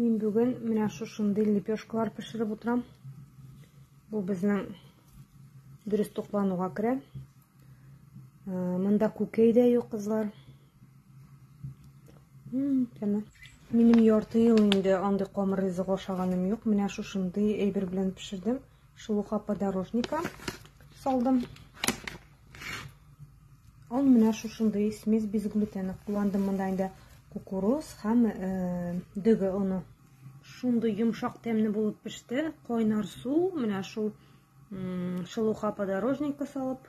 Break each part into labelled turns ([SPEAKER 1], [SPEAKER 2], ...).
[SPEAKER 1] Мин бүген менә шушындый лепешкалар пешереп утырам. Бу безнең дөрес туклануга керә. Монда күкәй дә юк, кызлар. Тәмә. Минем ярты ел инде андый камыр ризык ашаганым юк. Менә шушындый әйбер белән пешердем. Шулка подорожника салдым. Ул менә шушындый смесь без глютена кулландым монда инде кукуруз һәм э, дөге оны. Шундый йомшак тәмле булып пеште. Кайнар су, менә шул шылуха подорожника салып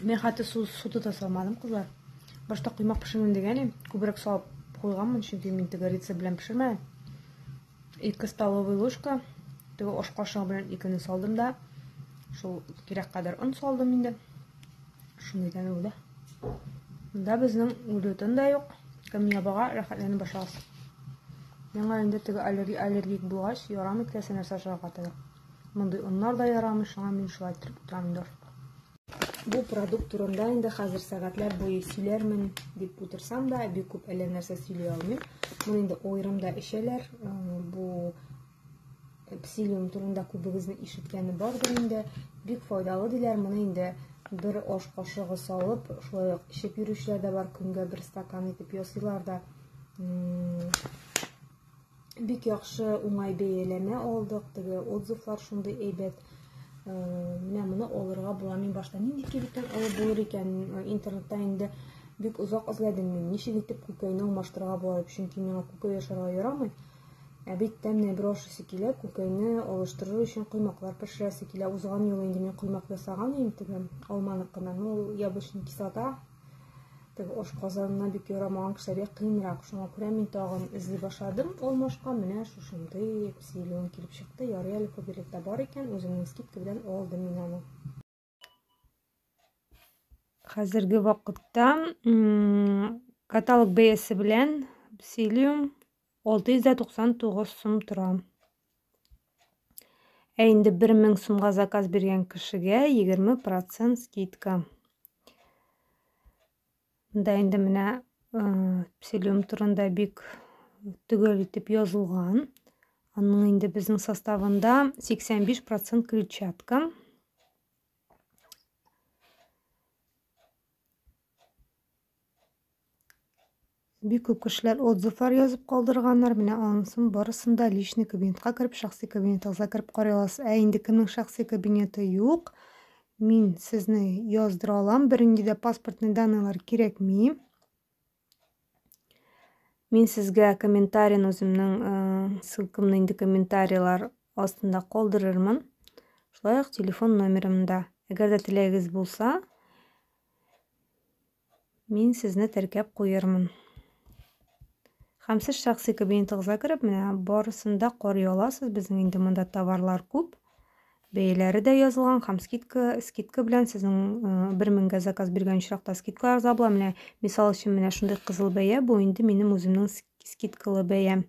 [SPEAKER 1] Мин хәтта су, су тота салмадым, кызлар. Башта коймак пешермим дигән идем. Күбрәк салып куйганмын, чөнки мин тегорица белән пешермәдем. Ике столовый ложка, теге ош кашыгы белән икене салдым да, шул кирәк кадәр он салдым инде. Шундый тәме булды. Монда безнең глютен да юк. Кем ябага рәхәтләнеп башлагыз. Миңа инде теге аллергик булгач, ярамый теләсә нәрсә ашарга тәгәр. Мондый оннар да ярамый, шуңа мин шулай иттереп утырам инде ашка. Бу продукт турында инде хәзер сәгатьләр буе сөйләрмен дип утырсам да, бик күп әллә нәрсә сөйли алмыйм. Моны инде аерымда эчәләр. Э, бу псилиум турында күбегезне ишеткәне бардыр инде. Бик файдалы диләр. Моны инде бер аш кашыгы салып, шулай ук эчеп йөрүчеләр дә бар, көнгә бер стакан итеп ясыйлар да. Бик яхшы уңай бәяләмә алдык, теге отзывлар шундый әйбәт. Э, менә моны алырга була. Мин башта нинди кибеттән алып булыр икән? Э, интернетта инде бик озак эзләдем мин. Ничек итеп күкәйне алмаштырырга була дип, чөнки миңа күкәй ашарга ярамый. Ә бит тәмне бер ашысы килә, күкәйне алыштырыр өчен коймаклар пешерәсе килә. Узган юлы инде мин коймак ясаган идем, теге алманыкыннан. Ул яблочный кислота теге ашказанына бик ярамаган кешеләргә кыенрак шуңа күрә мин тагын эзли башладым ул машка менә шушындый псилион килеп чыкты ярый әле кобелекта бар икән үземнең скидка белән алдым мин аны хәзерге вакытта каталог бәясе белән псилиум 699 сум тора Ә инде 1000 сумга заказ биргән кешегә 20% скидка. Монда инде менә псилиум турында бик төгәл итеп язылган. Аның инде безнең составында 85% клетчатка. Бик күп кешеләр отзывлар язып калдырганнар. Менә анысын барысын да личный кабинетка кереп, шәхси кабинетыгызга кереп карый аласыз. Ә инде кемнең шәхси кабинеты юк, мин сезне яздыра алам. Бернинди дә паспортный данныйлар кирәкми. Мин сезгә комментарийны үземнең э, ссылкамны инде комментарийлар астында калдырырмын. Шулай ук телефон номерымда. Әгәр дә теләгегез булса, Мин сезне теркәп куермын. Һәм сез шәхси кабинетыгызга кереп, менә барысында карый аласыз. Безнең инде монда товарлар күп. Бәяләре дә язылган һәм скидка, скидка белән сезнең 1000-гә заказ биргән очракта скидка арза була. Менә мисал өчен менә шундый кызыл бәя бу инде минем үземнең скидкалы бәям.